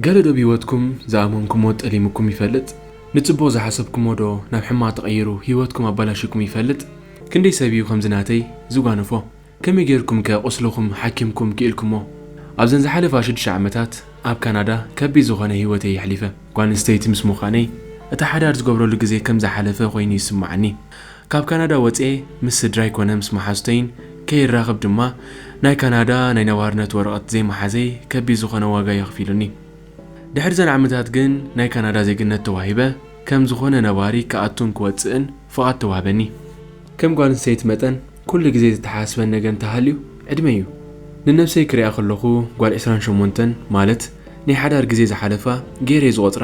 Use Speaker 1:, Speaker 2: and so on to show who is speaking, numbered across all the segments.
Speaker 1: ገለ ዶብ ሂወትኩም ዝኣመንኩሞ ጠሊሙኩም ይፈልጥ? ንጽቡቕ ዝሓሰብኩሞ ዶ ናብ ሕማቕ ተቐይሩ ሂወትኩም ኣባላሺኩም ይፈልጥ? ክንደይ ሰብ እዩ ከምዚ ናተይ ዝጓነፎ? ከመይ ጌርኩም ከ ቁስልኹም ሓኪምኩም ኪኢልኩሞ? ኣብዘን ዝሓለፋ ሽዱሽተ ዓመታት ኣብ ካናዳ ከቢድ ዝኾነ ሂወተይ የሕሊፈ። ጓል ኣንስተይቲ ምስ ሙኻነይ እቲ ሓዳር ዝገብረሉ ግዜ ከም ዝሓለፈ ኮይኑ ይስማዓኒ። ካብ ካናዳ ወጽየ ምስ ስድራይ ኮነ ምስ መሓዙተይን ከይራኽብ ድማ ናይ ካናዳ ናይ ነባርነት ወረቐት ዘይምሓዘይ ከቢድ ዝኾነ ዋጋ የኽፊሉኒ። ድሕሪዘን ዓመታት ግን ናይ ካናዳ ዜግነት ተዋሂበ ከም ዝኾነ ነባሪ ክኣቱን ክወጽእን ፍቓድ ተዋህበኒ። ከም ጓል ኣንስተይቲ መጠን ኩሉ ግዜ ዘተሓሳስበን ነገር እንተሃልዩ ዕድመይ እዩ። ንነብሰይ ክሪኣ ከለኹ ጓል ዕስራን ሸሞንተን ማለት ናይ ሓዳር ግዜ ዝሓለፋ ገይረ'የ ዝቖጽራ።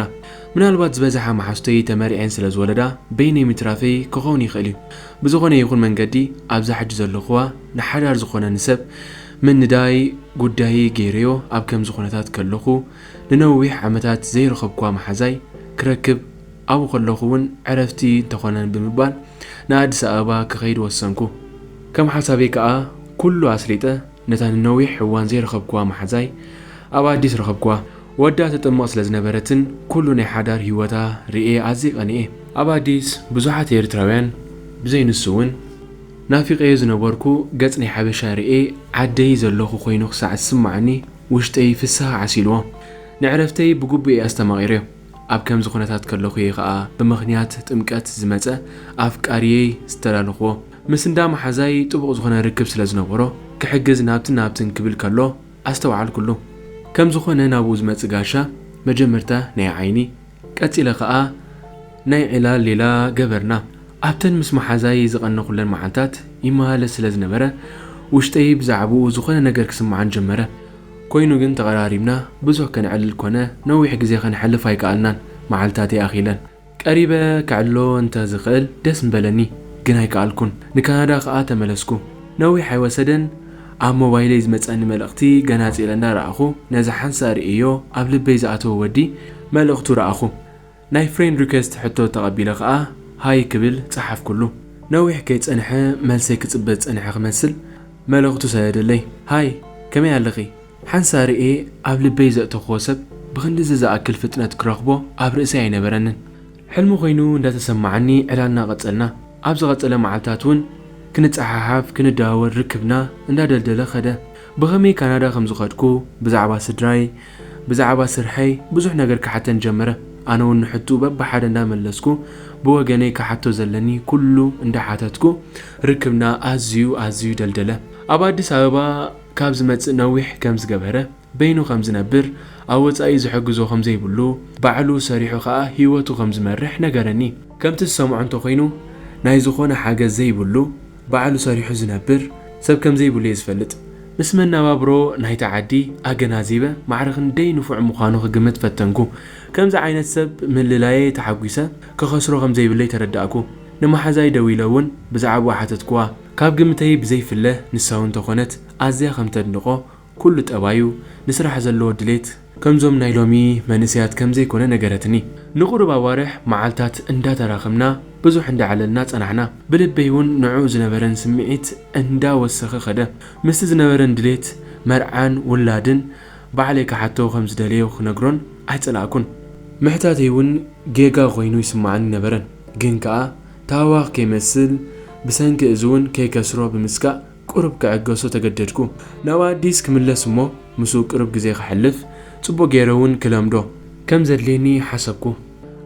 Speaker 1: ምናልባት ዝበዝሓ መሓዙተይ ተመሪዐን ስለ ዝወለዳ በይነይ ምትራፈይ ክኸውን ይኽእል እዩ። ብዝኾነ ይኹን መንገዲ ኣብዛ ሕጂ ዘለኹዋ ንሓዳር ዝኾነኒ ሰብ ምንዳይ ጉዳየይ ገይረዮ ኣብ ከምዚ ኩነታት ከለኹ ንነዊሕ ዓመታት ዘይረኸብኩዋ መሓዛይ ክረክብ ኣብኡ ከለኹ እውን ዕረፍቲ ተኾነን ብምባል ንኣዲስ ኣበባ ክኸይድ ወሰንኩ። ከም ሓሳበይ ከኣ ኩሉ ኣስሊጠ ነታ ንነዊሕ እዋን ዘይረኸብኩዋ መሓዛይ ኣብ ኣዲስ ረኸብኩዋ። ወዳ ትጥመቕ ስለ ዝነበረትን ኩሉ ናይ ሓዳር ህይወታ ርእየ ኣዝየ ቀኒኤ። ኣብ ኣዲስ ብዙሓት ኤርትራውያን ብዘይ ንሱ እውን ናፊቐዮ ዝነበርኩ ገጽ ናይ ሓበሻ ርእየ ዓደይ ዘለኹ ኮይኑ ክሳዕ ዝስመዓኒ ውሽጠይ ፍስሃ ዓሲልዎ። ንዕረፍተይ ብግቡእ'የ ኣስተማቒረዮ። ኣብ ከምዚ ኩነታት ከለኹ እየ ከኣ ብምኽንያት ጥምቀት ዝመጸ ኣፍቃሪየይ ዝተዳለኽዎ። ምስ እንዳ መሓዛይ ጥቡቕ ዝኾነ ርክብ ስለ ዝነበሮ ክሕግዝ ናብትን ናብትን ክብል ከሎ ኣስተውዓልኩሉ። ከም ዝኾነ ናብኡ ዝመጽእ ጋሻ መጀመርታ ናይ ዓይኒ ቀጺለ ከኣ ናይ ዕላል ሌላ ገበርና። ኣብተን ምስ መሓዛይ ዝቐነኹለን መዓልታት ይመላለስ ስለ ዝነበረ ውሽጠይ ብዛዕብኡ ዝኾነ ነገር ክስምዓን ጀመረ። ኮይኑ ግን ተቐራሪብና ብዙሕ ከነዕልል ኮነ ነዊሕ ግዜ ከነሕልፍ ኣይከኣልናን። መዓልትታተይ ኣኺለን። ቀሪበ ከዕልሎ እንተ ዝኽእል ደስ ምበለኒ፣ ግን ኣይከኣልኩን። ንካናዳ ከኣ ተመለስኩ። ነዊሕ ኣይወሰደን ኣብ ሞባይለይ ዝመጸኒ መልእኽቲ ገናጺለ እንዳ ረኣኹ ነዚ ሓንሳእ ርእየዮ ኣብ ልበይ ዝኣተወ ወዲ መልእኽቱ ረኣኹ። ናይ ፍሬንድ ሪከስት ሕቶ ተቐቢለ ከኣ ሃይ ክብል ጸሓፍኩሉ። ነዊሕ ከይጸንሐ መልሰይ ክጽበ ዝጸንሐ ክመስል መልእኽቱ ሰደደለይ። ሃይ ከመይ ኣለኺ? ሓንሳእ ርእየ ኣብ ልበይ ዘእተኹዎ ሰብ ብኽንድዚ ዝኣክል ፍጥነት ክረኽቦ ኣብ ርእሰይ ኣይነበረንን። ሕልሚ ኮይኑ እንዳተሰማዓኒ ዕላልና ቀጸልና። ኣብ ዝቐጸለ መዓልታት እውን ክንጸሓሓፍ ክንደዋወል ርክብና እንዳደልደለ ከደ። ብኸመይ ካናዳ ከም ዝኸድኩ፣ ብዛዕባ ስድራይ፣ ብዛዕባ ስርሐይ ብዙሕ ነገር ክሓተን ጀመረ። ኣነ ውን ንሕትኡ በብሓደ እንዳመለስኩ ብወገነይ ክሓቶ ዘለኒ ኩሉ እንዳሓተትኩ ርክብና ኣዝዩ ኣዝዩ ደልደለ። ኣብ ኣዲስ ኣበባ ካብ ዝመጽእ ነዊሕ ከም ዝገበረ፣ በይኑ ከም ዝነብር፣ ኣብ ወጻኢ ዝሕግዞ ከም ዘይብሉ፣ ባዕሉ ሰሪሑ ከኣ ሂወቱ ከም ዝመርሕ ነገረኒ። ከምቲ ዝሰምዖ እንተኾይኑ ናይ ዝኾነ ሓገዝ ዘይብሉ፣ ባዕሉ ሰሪሑ ዝነብር ሰብ ከምዘይብሉ እየ ዝፈልጥ። ምስ መነባብሮ ናይታ ዓዲ ኣገናዚበ ማዕረ ክንደይ ንፉዕ ምዃኑ ክግምት ፈተንኩ። ከምዚ ዓይነት ሰብ ምልላየይ ተሓጒሰ ክኸስሮ ከምዘይብለይ ተረዳእኩ። ንመሓዛይ ደዊለ እውን ብዛዕባኡ ሓተትክዋ። ካብ ግምተይ ብዘይፍለ ንሳውን ተኾነት ኣዝያ ከምተድንቖ፣ ኩሉ ጠባዩ፣ ንስራሕ ዘለዎ ድሌት፣ ከምዞም ናይ ሎሚ መንእሰያት ከም ዘይኮነ ነገረትኒ። ንቑሩብ ኣዋርሕ፣ መዓልታት እንዳተራኸብና፣ ብዙሕ እንዳዕለልና ጸናሕና። ብልበይ'ውን ንዕኡ ዝነበረን ስምዒት እንዳ ወሰኸ ከደ። ምስቲ ዝነበረን ድሌት መርዓን ውላድን፣ ባዕለይ ክሓቶ ከም ዝደለዮ ክነግሮን ኣይጸላእኩን። ምሕታተይ'ውን ጌጋ ኮይኑ ይስምዓኒ ነበረን። ግን ከኣ ታህዋኽ ከይመስል፣ ብሰንኪ እዚ'ውን ከይከስሮ ብምስጋእ፣ ቁሩብ ክዕገሶ ተገደድኩ። ናብ ኣዲስ ክምለስ እሞ ምስኡ ቅሩብ ግዜ ከሕልፍ፣ ጽቡቕ ገይረ እውን ክለምዶ ከም ዘድልየኒ ሓሰብኩ።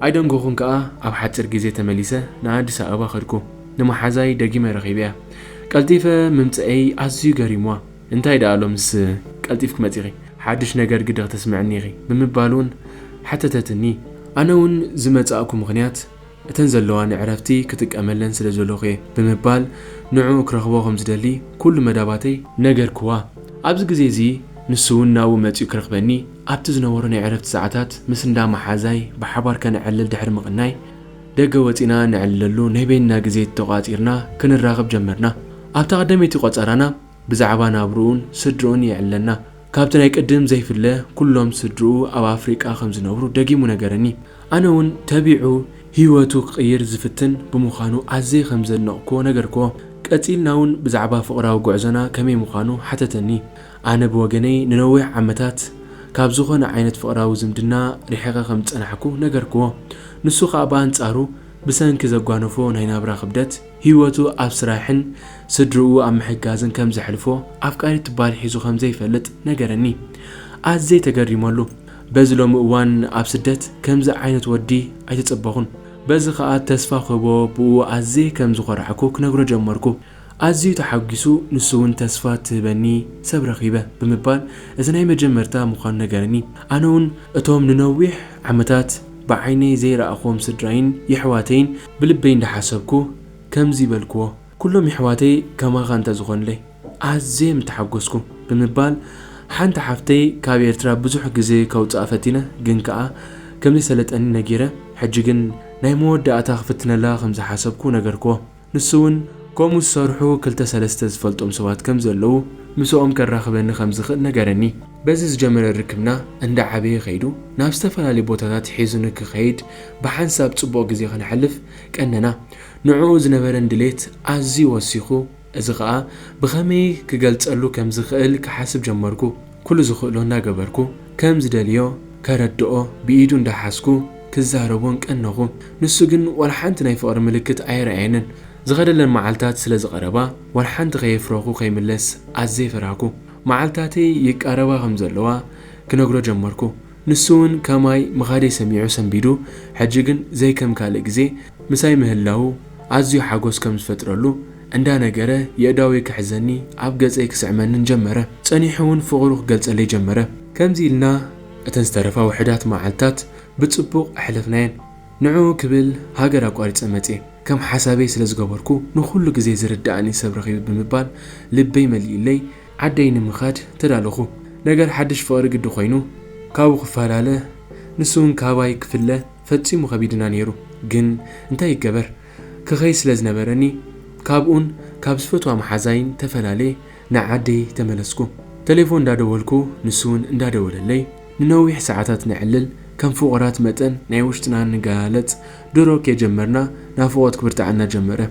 Speaker 1: ኣይደንጎኹን ከኣ ኣብ ሓጺር ግዜ ተመሊሰ ንኣዲስ ኣበባ ከድኩ። ንመሓዛይ ደጊመ ረኺበያ። ቀልጢፈ ምምጸኤይ ኣዝዩ ገሪምዋ። እንታይ ደኣ ሎምስ ቀልጢፍኪ መጺኺ? ሓድሽ ነገር ግዲ ክተስምዕኒ ኢኺ? ብምባል እውን ሓተተትኒ። ኣነ እውን ዝመጻእኩ ምኽንያት እተን ዘለዋ ንዕረፍቲ ክጥቀመለን ስለ ዘለኹ'የ ብምባል ንዕኡ ክረኽቦ ከም ዝደሊ ኩሉ መዳባተይ ነገርክዋ። ኣብዚ ግዜ እዚ ንሱ'ውን ናብኡ መጺኡ ክረኽበኒ ኣብቲ ዝነበሮ ናይ ዕረፍቲ ሰዓታት ምስ እንዳ መሓዛይ ብሓባር ከነዕልል ድሕሪ ምቕናይ ደገ ወጺእና ነዕልለሉ ናይ በይንና ግዜ ተቖጻጺርና ክንራኽብ ጀመርና። ኣብታ ቀደመይቲ ቆጸራና፣ ብዛዕባ ናብርኡን ስድርኡን የዕለና። ካብቲ ናይ ቅድም ዘይፍለ ኩሎም ስድርኡ ኣብ ኣፍሪቃ ከም ዝነብሩ ደጊሙ ነገረኒ። ኣነ እውን ተቢዑ ህይወቱ ክቕይር ዝፍትን ብምዃኑ ኣዝየ ከም ዘድነቕኩዎ ነገርኩዎ። ቀጺልና እውን ብዛዕባ ፍቕራዊ ጉዕዞና ከመይ ምዃኑ ሓተተኒ። ኣነ ብወገነይ ንነዊሕ ዓመታት ካብ ዝኾነ ዓይነት ፍቕራዊ ዝምድና ርሒቐ ከም ዝጸናሕኩ ነገርኩዎ። ንሱ ከኣ ብኣንጻሩ ብሰንኪ ዘጓነፎ ናይ ናብራ ክብደት፣ ህይወቱ ኣብ ስራሕን ስድርኡ ኣብ ምሕጋዝን ከም ዘሕልፎ፣ ኣፍቃሪት ትበሃል ሒዙ ከም ዘይፈልጥ ነገረኒ። ኣዝየ ተገሪመሉ። በዚ ሎሚ እዋን ኣብ ስደት ከምዚ ዓይነት ወዲ ኣይተጸበኹን። በዚ ከኣ ተስፋ ክህቦ ብኡ ኣዝየ ከም ዝኾራዕኩ ክነግሮ ጀመርኩ። ኣዝዩ ተሓጒሱ ንሱ'ውን ተስፋ ትህበኒ ሰብ ረኺበ ብምባል እዚ ናይ መጀመርታ ምዃኑ ነገረኒ። ኣነ'ውን እቶም ንነዊሕ ዓመታት ብዓይነይ ዘይረኣኹዎም ስድራይን የሕዋተይን፣ ብልበይ እንዳሓሰብኩ ከምዚ በልክዎ፣ ኩሎም የሕዋተይ ከማኻ እንተዝኾኑለይ ኣዝየ ምተሓጎስኩ ብምባል ሓንቲ ሓፍተይ ካብ ኤርትራ ብዙሕ ግዜ ከውጽኣ ፈቲነ ግን ከኣ ከምዘይሰለጠኒ ነጊረ ሕጂ ግን ናይ መወዳእታ ክፍትነላ ከምዝሓሰብኩ ነገርክዎ ንሱ ውን ከምኡ ዝሰርሑ ክልተ ሰለስተ ዝፈልጦም ሰባት ከምዘለዉ ምሰኦም ከራኽበኒ ከምዝኽእል ነገረኒ። በዚ ዝጀመረ ርክብና እንዳዓበየ ከይዱ ናብ ዝተፈላለዩ ቦታታት ሒዙኒ ክኸይድ ብሓንሳብ ጽቡቕ ግዜ ከነሕልፍ ቀነና። ንዕኡ ዝነበረን ድሌት ኣዝዩ ወሲኹ፣ እዚ ኸኣ ብኸመይ ክገልጸሉ ከም ዝኽእል ክሓስብ ጀመርኩ። ኩሉ ዝኽእሎ እንዳገበርኩ ከም ዝደልዮ ከረድኦ ብኢዱ እንዳሓዝኩ ክዛረቦን ቀነኹ። ንሱ ግን ዋላ ሓንቲ ናይ ፍቕሪ ምልክት ኣየርኣየንን። ዝኸደለን መዓልታት ስለ ዝቐረባ ዋላ ሓንቲ ከየፍረኹ ከይምለስ ኣዝየ ፈራህኩ። መዓልታተይ ይቃረባ ከም ዘለዋ ክነግሮ ጀመርኩ። ንሱ ውን ከማይ ምኻደይ ሰሚዑ ሰንቢዱ ሕጂ ግን ዘይ ከም ካልእ ግዜ ምሳይ ምህላዉ ኣዝዩ ሓጎስ ከም ዝፈጥረሉ እንዳ ነገረ የእዳወይ ክሕዘኒ ኣብ ገጸይ ክስዕመንን ጀመረ። ጸኒሑ ውን ፍቕሩ ክገልጸለይ ጀመረ። ከምዚ ኢልና እተን ዝተረፋ ውሑዳት መዓልታት ብጽቡቕ ኣሕለፍናየን። ንዑ ክብል ሃገር ኣቋሪጸ መጼ ከም ሓሳበይ ስለ ዝገበርኩ ንኹሉ ግዜ ዝርደኣኒ ሰብ ረኺበ ብምባል ልበይ መሊኡለይ ዓደይ ንምኻድ ተዳለኹ። ነገር ሓድሽ ፍቕሪ ግዲ ኮይኑ ካብኡ ክፋላለ ንሱውን ካባይ ክፍለ ፈጺሙ ከቢድና ኔሩ ግን እንታይ ይገበር ክኸይድ ስለ ዝነበረኒ ካብኡን ካብ ዝፈትዋ መሓዛይን ተፈላልየ ንዓደይ ተመለስኩ። ተሌፎን እንዳደወልኩ ንሱውን እንዳደወለለይ ንነዊሕ ሰዓታት ነዕልል፣ ከም ፍቑራት መጠን ናይ ውሽጥና ንገላለጽ፣ ድሮ ከይጀመርና ናፍቖት ክብርትዓና ጀመረ።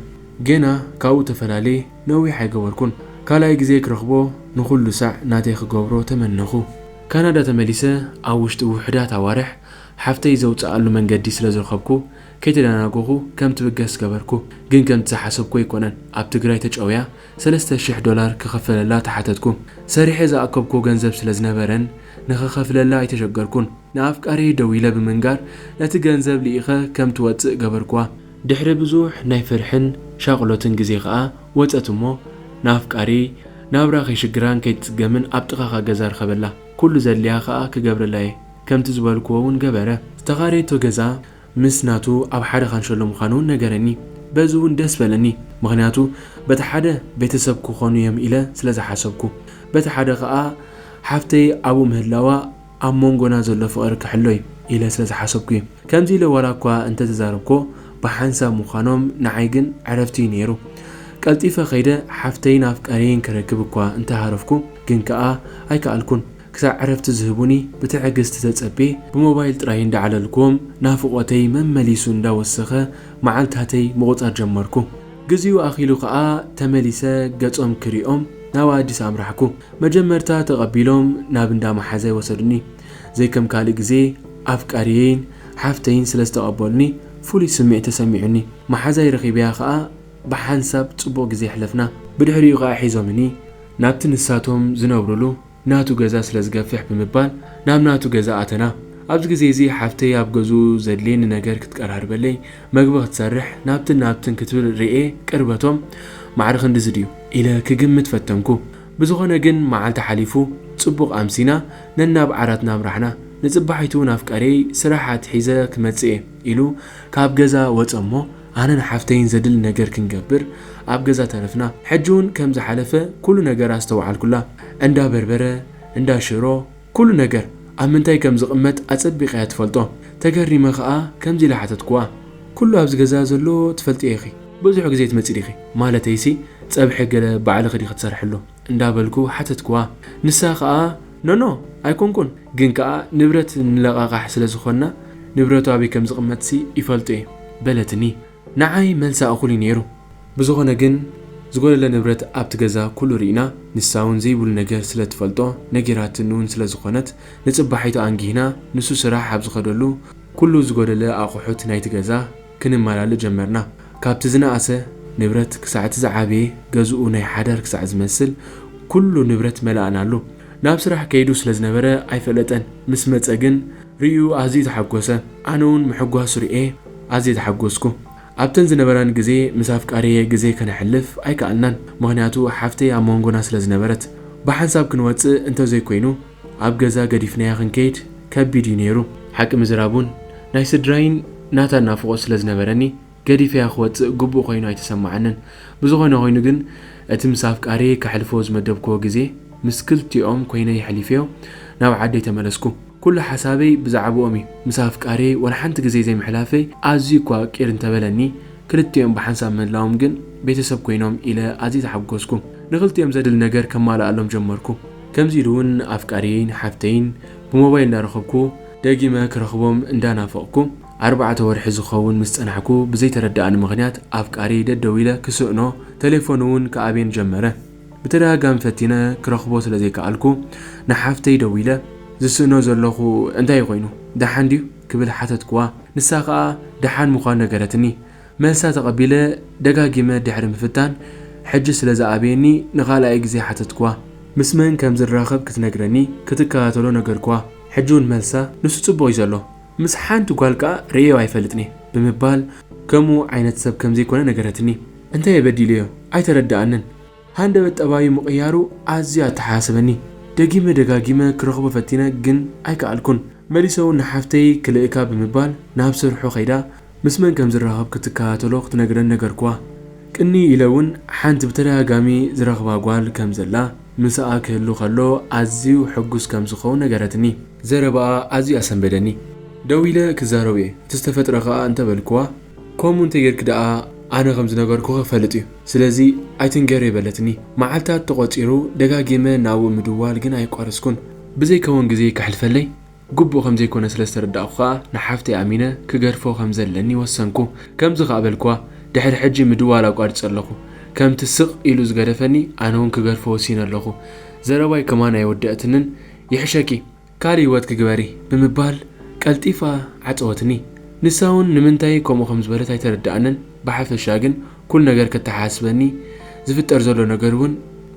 Speaker 1: ጌና ካብኡ ተፈላልየ ነዊሕ ኣይገበርኩን፣ ካልኣይ ግዜ ክረኽቦ ንኹሉ ሳዕ ናተይ ክገብሮ ተመነኹ። ካናዳ ተመሊሰ ኣብ ውሽጢ ውሑዳት ኣዋርሕ ሓፍተይ ዘውጽኣሉ መንገዲ ስለ ዝረኸብኩ ከይተደናገኹ ከም ትብገስ ገበርኩ፣ ግን ከምቲ ዝሓሰብኩ ኣይኮነን፣ ኣብ ትግራይ ተጨውያ ሰለስተ ሽሕ ዶላር ክኽፈለላ ተሓተትኩ። ሰሪሐ ዝኣከብኩዎ ገንዘብ ስለ ዝነበረን ንኽኸፍለላ ኣይተሸገርኩን። ንኣፍቃሪየይ ደዊለ ብምንጋር ነቲ ገንዘብ ልኢኸ ከም ትወጽእ ገበርኩዋ። ድሕሪ ብዙሕ ናይ ፍርሕን ሻቕሎትን ግዜ ከኣ ወጸት እሞ ንኣፍቃሪየይ ናብራ ከይሽግራን ከይትጽገምን ኣብ ጥቓኻ ገዛ ርኸበላ። ኩሉ ዘድልያ ከኣ ክገብረላየ። ከምቲ ዝበልኩዎ'ውን ገበረ። ዝተኻረየቶ ገዛ ምስ ናቱ ኣብ ሓደ ካንሸሎ ምኻኑ ነገረኒ በዚ ውን ደስ በለኒ ምኽንያቱ በቲ ሓደ ቤተሰብ ክኾኑ ዮም ኢለ ስለ ዝሓሰብኩ በቲ ሓደ ከኣ ሓፍተይ ኣብኡ ምህላዋ ኣብ ሞንጎና ዘሎ ፍቕሪ ክሕሎ ዩ ኢለ ስለ ዝሓሰብኩ ዩ ከምዚ ኢለ ዋላ እኳ እንተ ተዛረብኮ ብሓንሳብ ምኻኖም ንዓይ ግን ዕረፍቲ ዩ ነይሩ ቀልጢፈ ከይደ ሓፍተይን ኣፍቃርየይን ክረክብ እኳ እንተ ሃረፍኩ ግን ከኣ ኣይከኣልኩን ክሳዕ ዕረፍቲ ዝህቡኒ ብትዕግስቲ ተጸብየ ብሞባይል ጥራይ እንዳዕለልክዎም ናፍቖተይ መመሊሱ እንዳወሰኸ መዓልታተይ ምቑጻር ጀመርኩ። ግዚኡ ኣኺሉ ከኣ ተመሊሰ ገጾም ክሪኦም ናብ ኣዲስ ኣምራሕኩ። መጀመርታ ተቐቢሎም ናብ እንዳ መሓዛይ ወሰዱኒ። ዘይከም ካልእ ግዜ ኣፍቃሪየይን ሓፍተይን ስለ ዝተቐበሉኒ ፍሉይ ስምዒት ተሰሚዑኒ። መሓዛይ ረኺበያ ከኣ ብሓንሳብ ጽቡቕ ግዜ ኣሕለፍና። ብድሕሪኡ ከኣ ሒዞምኒ ናብቲ ንሳቶም ዝነብሩሉ ናቱ ገዛ ስለ ዝገፍሕ ብምባል ናብ ናቱ ገዛ ኣተና። ኣብዚ ግዜ እዚ ሓፍተይ ኣብ ገዝኡ ዘድልየኒ ነገር ክትቀራርበለይ፣ መግቢ ክትሰርሕ፣ ናብትን ናብትን ክትብል ርእየ ቅርበቶም ማዕረ ክንድዚ ድዩ? ኢለ ክግምት ፈተንኩ። ብዝኾነ ግን መዓልቲ ሓሊፉ ጽቡቕ ኣምሲና ነናብ ዓራትና ኣምራሕና። ንጽባሒቱ ናፍቀርየይ ስራሕ ኣትሒዘ ክመጽእ እየ ኢሉ ካብ ገዛ ወጸ እሞ፣ ኣነን ሓፍተይን ዘድሊ ነገር ክንገብር ኣብ ገዛ ተረፍና ሕጂ ውን ከም ዝሓለፈ ኩሉ ነገር ኣስተውዓልኩላ እንዳ በርበረ እንዳ ሽሮ ኩሉ ነገር ኣብ ምንታይ ከም ዝቅመጥ ኣጸቢቃ እያ ትፈልጦ ተገሪመ ከኣ ከምዚ ኢለ ሓተትኩዋ ኩሉ ኣብዚ ገዛ ዘሎ ትፈልጥዮ ኢኺ ብዙሕ ግዜ ትመጺ ዲኺ ማለተይሲ ጸብሒ ገለ ባዕልኺ ዲኺ ትሰርሕሉ እንዳበልኩ ሓተትክዋ። ንሳ ከኣ ኖኖ ኣይኮንኩን ግን ከኣ ንብረት ንለቓቓሕ ስለ ዝኾንና ንብረቱ ኣበይ ከም ዝቕመጥሲ ይፈልጦ'የ በለትኒ። ንዓይ መልሳ እኹል'ዩ ነይሩ። ብዝኾነ ግን ዝጎደለ ንብረት ኣብቲ ገዛ ኩሉ ርኢና ንሳ'ውን ዘይብሉ ነገር ስለ ትፈልጦ ነጊራትኒ'ውን ስለ ዝኾነት ንጽባሒቱ ኣንጊህና ንሱ ስራሕ ኣብ ዝኸደሉ ኩሉ ዝጎደለ ኣቑሑት ናይቲ ገዛ ክንመላልእ ጀመርና። ካብቲ ዝነኣሰ ንብረት ክሳዕ'ቲ ዝዓበየ ገዝኡ ናይ ሓዳር ክሳዕ ዝመስል ኩሉ ንብረት መላእናሉ። ናብ ስራሕ ከይዱ ስለ ዝነበረ ኣይፈለጠን። ምስ መጸ ግን ርእዩ ኣዝዩ ተሓጎሰ። ኣነ'ውን ምሕጓሱ ርእየ ኣዝየ ተሓጎስኩ። ኣብተን ዝነበራኒ ግዜ ምስ ኣፍቃሪየይ ግዜ ከነሕልፍ ኣይከኣልናን። ምኽንያቱ ሓፍተይ ኣብ መንጎና ስለ ዝነበረት። ብሓንሳብ ክንወጽእ እንተዘይኮይኑ። ኣብ ገዛ ገዲፍናያ ክንከይድ ከቢድ እዩ ነይሩ። ሓቂ ምዝራብ እውን ናይ ስድራይን ናታን ናፍቖት ስለ ዝነበረኒ ገዲፈያ ክወጽእ ግቡእ ኰይኑ ኣይተሰምዓንን። ብዝዀነ ዀይኑ ግን እቲ ምስ ኣፍቃሪየይ ከሕልፎ ዝመደብክዎ ግዜ ምስ ክልቲኦም ኰይነ የሕሊፈዮ ናብ ዓደይ ተመለስኩ። ኵሉ ሓሳበይ ብዛዕብኦም እዩ። ምስ ኣፍቃሪየይ ወላ ሓንቲ ግዜ ዘይምሕላፈይ ኣዝዩ እኳ ቂር እንተበለኒ፣ ክልቲኦም ብሓንሳብ ምህላዎም ግን ቤተሰብ ኰይኖም ኢለ ኣዝየ ተሓጐስኩ። ንኽልቲኦም ዘድሊ ነገር ከማልኣሎም ጀመርኩ። ከምዚ ኢሉ ውን ኣፍቃርየይን ሓፍተይን ብሞባይል እንዳረኸብኩ ደጊመ ክረኽቦም እንዳናፈቕኩ ኣርባዕተ ወርሒ ዝኸውን ምስ ጸናሕኩ ብዘይተረደኣኒ ምኽንያት ኣፍቃርየይ ደደዊለ ክስእኖ ተሌፎኑ ውን ክኣብየን ጀመረ ብተደጋጋሚ ፈቲነ ክረኽቦ ስለ ዘይከኣልኩ ንሓፍተይ ደዊለ ዝስእኖ ዘለኹ እንታይ'ዩ ኮይኑ ደሓን ድዩ ክብል ሓተትኩዋ ንሳ ከኣ ደሓን ምዃኑ ነገረትኒ መልሳ ተቐቢለ ደጋጊመ ድሕሪ ምፍታን ሕጂ ስለ ዝኣበየኒ ንኻልኣይ ግዜ ሓተትክዋ። ምስ መን ከም ዝራኸብ ክትነግረኒ ክትከታተሎ ነገርክዋ። ሕጂ'ውን መልሳ ንሱ ጽቡቕ እዩ ዘሎ፣ ምስ ሓንቲ ጓል ከኣ ርእየዮ ኣይፈልጥን'የ ብምባል ከምኡ ዓይነት ሰብ ከም ዘይኮነ ነገረትኒ። እንታይ'የ በዲለዮ? ኣይተረድኣንን። ሃንደበት ጠባዩ ምቕያሩ ኣዝዩ ኣተሓሳሰበኒ። ደጊመ ደጋጊመ ክረኽቦ ፈቲነ ግን ኣይከኣልኩን። መሊሰ'ውን ንሓፍተይ ክልእካ ብምባል ናብ ስርሑ ከይዳ ምስ መን ከም ዝራኸብ ክትከታተሎ ክትነግረን ነገርኩዋ። ቅንይ ኢለ'ውን ሓንቲ ብተደጋጋሚ ዝረኽባ ጓል ከም ዘላ፣ ምሳኣ ክህሉ ከሎ ኣዝዩ ሕጉስ ከም ዝኸውን ነገረትኒ። ዘረባኣ ኣዝዩ ኣሰንበደኒ። ደው ኢለ ክዛረብ'የ እቲ ዝተፈጥረ ከኣ እንተ በልኩዋ፣ ከምኡ እንተ ጌርኪ ደኣ ኣነ ከም ዝነገርኩኺ ክፈልጥ'ዩ። ስለዚ ኣይትንገሬ በለትኒ። መዓልታት ተቖጺሩ፣ ደጋጊመ ናብኡ ምድዋል ግን ኣየቋረጽኩን። ብዘይከውን ግዜ ከሕልፈለይ ግቡእ ከም ዘይኮነ ስለ ዝተረዳእኩ ከኣ ንሓፍተይ ኣሚነ ክገድፎ ከም ዘለኒ ወሰንኩ። ከምዚ ከኣ በልክዋ፣ ድሕሪ ሕጂ ምድዋል ኣቋሪጸ ኣለኹ። ከምቲ ስቕ ኢሉ ዝገደፈኒ ኣነውን ክገድፎ ወሲነ ኣለኹ። ዘረባይ ከማን ኣይወደኣትንን። ይሕሸኪ! ካልእ ህይወት ክግበር እዪ ብምባል ቀልጢፋ ዓጸወትኒ። ንሳ'ውን ንምንታይ ከምኡ ከም ዝበለት ኣይተረድኣንን፣ ብሓፈሻ ግን ኩሉ ነገር ከተሓሳስበኒ፣ ዝፍጠር ዘሎ ነገር'ውን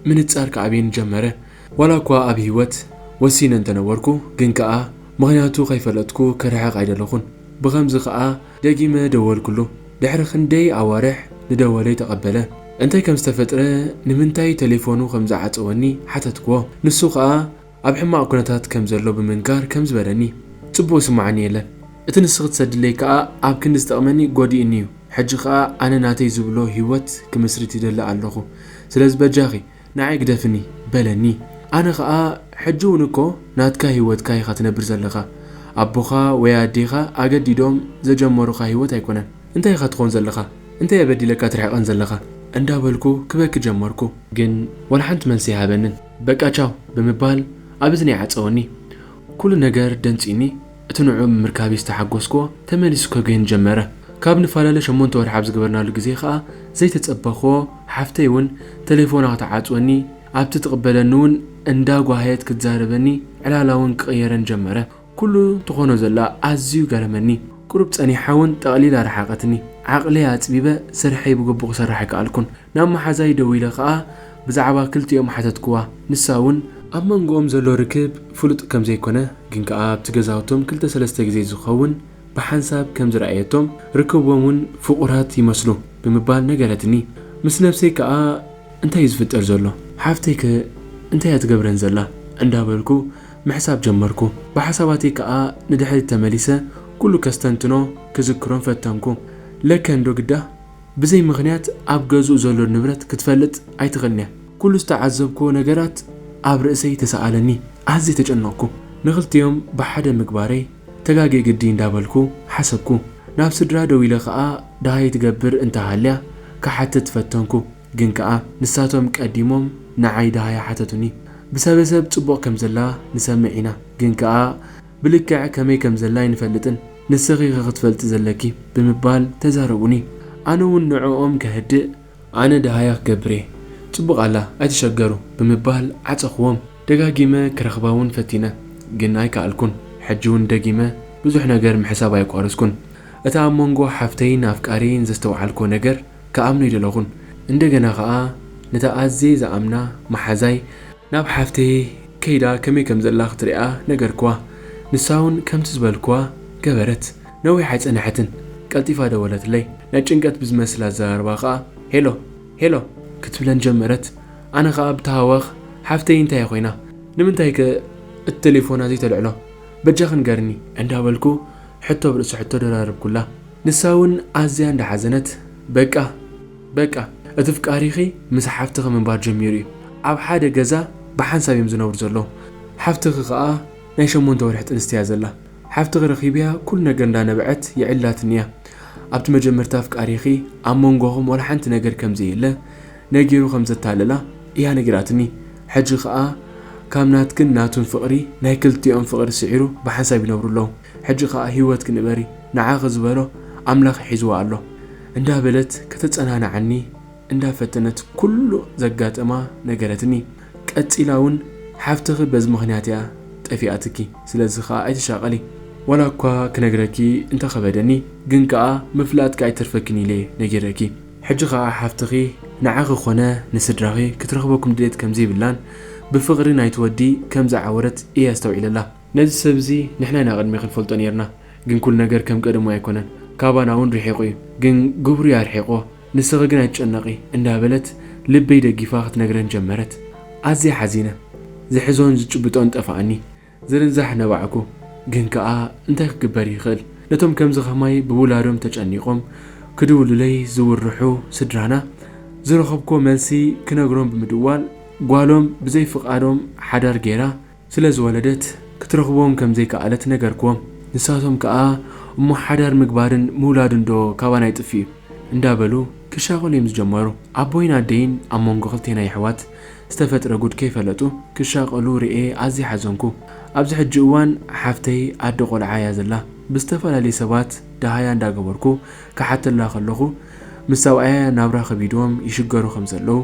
Speaker 1: ምንጻር ክኣብየኒ ጀመረ። ዋላ'ኳ ኣብ ህይወት ወሲነ እንተ ነበርኩ፣ ግን ከኣ ምኽንያቱ ከይፈለጥኩ ክርሕቕ ኣይደለኹን። ብኸምዚ ከኣ ደጊመ ደወልኩሉ። ድሕሪ ክንደይ ኣዋርሕ ንደወለይ ተቐበለ። እንታይ ከም ዝተፈጥረ፣ ንምንታይ ተሌፎኑ ከም ዝዓጸወኒ ሓተትክዎ። ንሱ ከኣ። ኣብ ሕማቕ ኩነታት ከም ዘሎ ብምንጋር ከም ዝበለኒ ጽቡቕ ይስምዓኒ የለን እቲ ንስኺ ትሰድለይ ከኣ ኣብ ክንዲ ዝጠቕመኒ ጎዲኡኒ እዩ ሕጂ ከኣ ኣነ ናተይ ዝብሎ ሂወት ክምስርት ይደሊ ኣለኹ ስለዚ በጃኺ ንዓይ ግደፍኒ በለኒ ኣነ ከኣ ሕጂ ውን እኮ ናትካ ሂወትካ ኢኻ ትነብር ዘለኻ ኣቦኻ ወይ ኣዴኻ ኣገዲዶም ዘጀመሩኻ ሂወት ኣይኮነን እንታይ ኢኻ ትኾን ዘለኻ እንታይ እየ በዲለካ ትርሕቐን ዘለኻ እንዳበልኩ ክበኪ ጀመርኩ ግን ወላ ሓንቲ መልሲ ኣይሃበንን። በቃ ቻው ብምባል ኣብ እዝነይ ዓጸወኒ። ኩሉ ነገር ደንጽዩኒ እቲ ንዕኡ ብምርካብይ ዝተሓጎስክዎ ተመሊሱ ከጉህየኒ ጀመረ። ካብ ንፈላለ ሸሞንተ ወርሒ ኣብ ዝገበርናሉ ግዜ ከኣ ዘይተጸበኽዎ ሓፍተይ ውን ተሌፎና ክትዓጽወኒ ኣብቲ ትቕበለኒ ውን እንዳ ጓሃየት ክትዛረበኒ ዕላላ ውን ክቕየረኒ ጀመረ። ኩሉ ትኾኖ ዘላ ኣዝዩ ገረመኒ ቁሩብ ጸኒሓ ውን ጠቕሊላ ረሓቐትኒ ዓቕለይ ኣጽቢበ ስርሐይ ብግቡእ ክሰርሕ ኣይከኣልኩን ናብ መሓዛይ ደዊለ ከኣ ብዛዕባ ክልቲኦም ሓተትክዋ ንሳ ውን ኣብ መንጎኦም ዘሎ ርክብ ፍሉጥ ከም ዘይኮነ ግን ከኣ ኣብቲ ገዛውቶም ክልተ ሰለስተ ግዜ ዝኸውን ብሓንሳብ ከም ዝረኣየቶም ርክቦም ውን ፍቑራት ይመስሉ ብምባል ነገረትኒ ምስ ነብሰይ ከኣ እንታይ እዩ ዝፍጠር ዘሎ ሓፍተይ ከ እንታይ እያ ትገብረን ዘላ እንዳበልኩ ምሕሳብ ጀመርኩ። ብሓሳባተይ ከኣ ንድሕሪት ተመሊሰ ኩሉ ከስተንትኖ ክዝክሮን ፈተንኩ። ለከ እንዶ ግዳ ብዘይ ምኽንያት ኣብ ገዝኡ ዘሎ ንብረት ክትፈልጥ ኣይትኽእልን'ያ። ኩሉ ዝተዓዘብኩዎ ነገራት ኣብ ርእሰይ ተሰኣለኒ። ኣዝየ ተጨነቕኩ። ንኽልቲኦም ብሓደ ምግባረይ ተጋግየ ግዲ እንዳበልኩ ሓሰብኩ። ናብ ስድራ ደዊለ ከኣ ደሃይ ትገብር እንተሃልያ ክሓትት ፈተንኩ። ግን ከኣ ንሳቶም ቀዲሞም ንዓይ ደሃያ ሓተቱኒ። ብሰበሰብ ጽቡቕ ከም ዘላ ንሰምዕ ኢና፣ ግን ከኣ ብልክዕ ከመይ ከም ዘላ ኣይንፈልጥን፣ ንስኺ ኢኺ ክትፈልጢ ዘለኪ ብምባል ተዛረቡኒ። ኣነ እውን ንዕኦም ከህድእ፣ ኣነ ደሃያ ክገብር እየ ጽቡቕ ኣላ ኣይትሸገሩ ብምባል ዓጸኹዎም። ደጋጊመ ክረኽባ እውን ፈቲነ ግን ኣይከኣልኩን። ሕጂ እውን ደጊመ ብዙሕ ነገር ምሕሳብ ኣየቋረጽኩን። እቲ ኣብ መንጎ ሓፍተይን ኣፍቃሪየይን ዘስተውዓልኩዎ ነገር፣ ክኣምኖ ኣይደለኹን እንደገና ከኣ ነታ ኣዝየ ዝኣምና መሓዛይ ናብ ሓፍተይ ከይዳ ከመይ ከም ዘላ ክትሪኣ ነገርክዋ ንሳ ውን ከምቲ ዝበልክዋ ገበረት ነዊሕ ኣይጸነሐትን ቀልጢፋ ደወለትለይ ናይ ጭንቀት ብዝመስል ኣዘራርባ ከኣ ሄሎ ሄሎ ክትብለን ጀመረት ኣነ ከኣ ብታህዋኽ ሓፍተይ እንታይ እያ ኮይና ንምንታይ ከ እቲ ተሌፎና ዘይተልዕሎ በጃኺ ንገርኒ እንዳበልኩ ሕቶ ብርእሲ ሕቶ ደራረብኩላ። ንሳ ውን ኣዝያ እንዳ ሓዘነት በቃ በቃ እቲ ፍቃሪኪ ምስ ሓፍትኪ ምንባር ጀሚሩ ዩ ኣብ ሓደ ገዛ ብሓንሳብ ዮም ዝነብሩ ዘለዉ ሓፍትኪ ከኣ ናይ ሸሞንተ ወርሒ ጥንስቲ እያ ዘላ ሓፍትኪ ረኪበያ ኩሉ ነገር እንዳ ነበዐት የዕልላትኒ እያ ኣብቲ መጀመርታ ፍቃሪኪ ኣብ መንጎኩም ዋላ ሓንቲ ነገር ከም ዘየለ ነጊሩ ከም ዘታለላ እያ ነጊራትኒ ሕጂ ከኣ ካብ ናትክን ናቱን ፍቅሪ ናይ ክልቲኦም ፍቅሪ ስዒሩ ብሓንሳብ ይነብሩ ኣለዉ። ሕጂ ከኣ ሂወትኪ ንበሪ ንዓኺ ዝበሎ ኣምላኽ ሒዝዎ ኣሎ እንዳ በለት ከተጸናንዓኒ እንዳ ፈተነት ኩሉ ዘጋጠማ ነገረትኒ ቀጺላ ውን ሓፍትኺ በዚ ምኽንያት እያ ጠፊኣትኪ ስለዚ ከኣ ኣይትሻቀሊ ዋላ እኳ ክነግረኪ እንተ ከበደኒ ግን ከኣ ምፍላጥኪ ኣይተርፈክን ኢለ ነጊረኪ ሕጂ ከኣ ሓፍትኺ ንዓኺ ኮነ ንስድራኺ ክትረኽበኩም ድሌት ከም ዘይብላን ብፍቅሪ ናይቲ ወዲ ከም ዝዓወረት እየ ኣስተውዒለላ። ነዚ ሰብ እዚ ንሕና ኢና ቅድሜኪ ንፈልጦ ኔርና ግን ኩሉ ነገር ከም ቀደሙ ኣይኮነን ካባና ውን ሪሒቁ እዩ ግን ግብሩ እዩ ኣርሒቅዎ ንስኪ ግን ኣይትጨነቂ እንዳ በለት ልበይ ደጊፋ ክትነግረን ጀመረት ኣዝየ ሓዚነ ዝሕዞን ዝጭብጦን ጠፋኣኒ ዝርንዛሕ ነባዕኩ ግን ከኣ እንታይ ክግበር ይክእል ነቶም ከምዚ ከማይ ብውላዶም ተጨኒቆም ክድውሉለይ ዝውርሑ ስድራና ዝረከብኩዎ መልሲ ክነግሮም ብምድዋል ጓሎም ብዘይ ፍቃዶም ሓዳር ጌራ ስለ ዝወለደት ክትረኽቦም ከም ዘይከኣለት ነገርክዎም። ንሳቶም ከኣ እሞ ሓዳር ምግባርን ምውላድንዶ ካባና ይጥፍእ'ዩ? እንዳ በሉ ክሻቐሉ'ዮም ዝጀመሩ። ኣቦይን ኣደይን ኣብ መንጎ ክልቴና የሕዋት ዝተፈጥረ ጉድ ከይፈለጡ ክሻቐሉ ርእየ ኣዝየ ሓዘንኩ። ኣብዚ ሕጂ እዋን ሓፍተይ ኣደ ቆልዓ እያ ዘላ። ብዝተፈላለየ ሰባት ደሃያ እንዳ ገበርኩ ክሓተላ ከለኹ ምስ ሰብኣያ ናብራ ከቢድዎም ይሽገሩ ከም ዘለዉ፣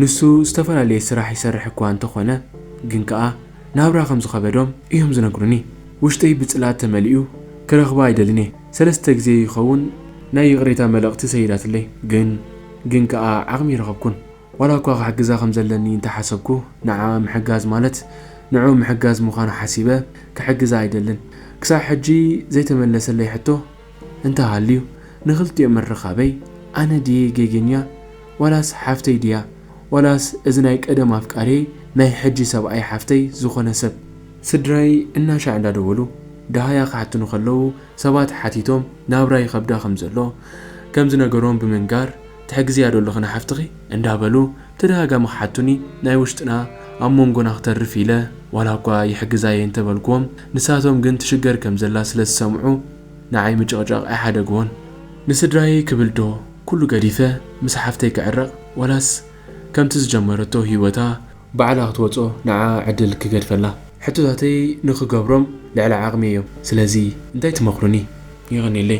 Speaker 1: ንሱ ዝተፈላለየ ስራሕ ይሰርሕ እኳ እንተ ዀነ፣ ግን ከኣ ናብራ ኸም ዝኸበዶም እዮም ዚነግሩኒ። ውሽጠይ ብጽልኣት ተመሊኡ፣ ክረኽባ ኣይደልን እየ። ሰለስተ ግዜ ይኸውን ናይ ይቕሬታ መልእኽቲ ሰይዳትለይ፣ ግን ግን ከኣ ዓቕሚ ኣይረኸብኩን። ዋላ እኳ ኽሕግዛ ኸም ዘለኒ እንተ ሓሰብኩ፣ ንዓኣ ምሕጋዝ ማለት ንዕኡ ምሕጋዝ ምዃኑ ሓሲበ፣ ክሕግዛ ኣይደልን። ክሳዕ ሕጂ ዘይተመለሰለይ ሕቶ፣ እንተሃልዩ ንክልቲኦም ምርኻበይ ኣነ ድየ ጌጌኛ ዋላስ ሓፍተይ ድያ ዋላስ እዚ ናይ ቀደም ኣፍቃርየይ ናይ ሕጂ ሰብኣይ ሓፍተይ ዝኾነ ሰብ። ስድራይ እናሻዕ እንዳደወሉ ደሃያ ክሓቱኒ ከለዉ ሰባት ሓቲቶም ናብራ ይኸብዳ ከምዘሎ ከምዝነገሮም ብምንጋር፣ ትሕግዝያዶ ኣለኺ ንሓፍትኺ? እንዳበሉ ብተደጋጋሚ ክሓቱኒ ናይ ውሽጥና ኣብ ሞንጎና ክተርፍ ኢለ ዋላኳ ይሕግዛየ እንተበልክዎም ንሳቶም ግን ትሽገር ከምዘላ ስለዝሰምዑ ንዓይ ምጭቕጫቕ ኣይሓደግዎን። ንስድራየይ ክብል ዶ ኩሉ ገዲፈ ምስ ሓፍተይ ክዕረቕ ዋላስ ከምቲ ዝጀመረቶ ሂወታ፣ ባዕላ ክትወጾ ንዓኣ ዕድል ክገድፈላ። ሕቶታተይ ንክገብሮም ልዕሊ ዓቅመይ እዮም ስለዚ እንታይ ትመክሩኒ? የቀኔለይ።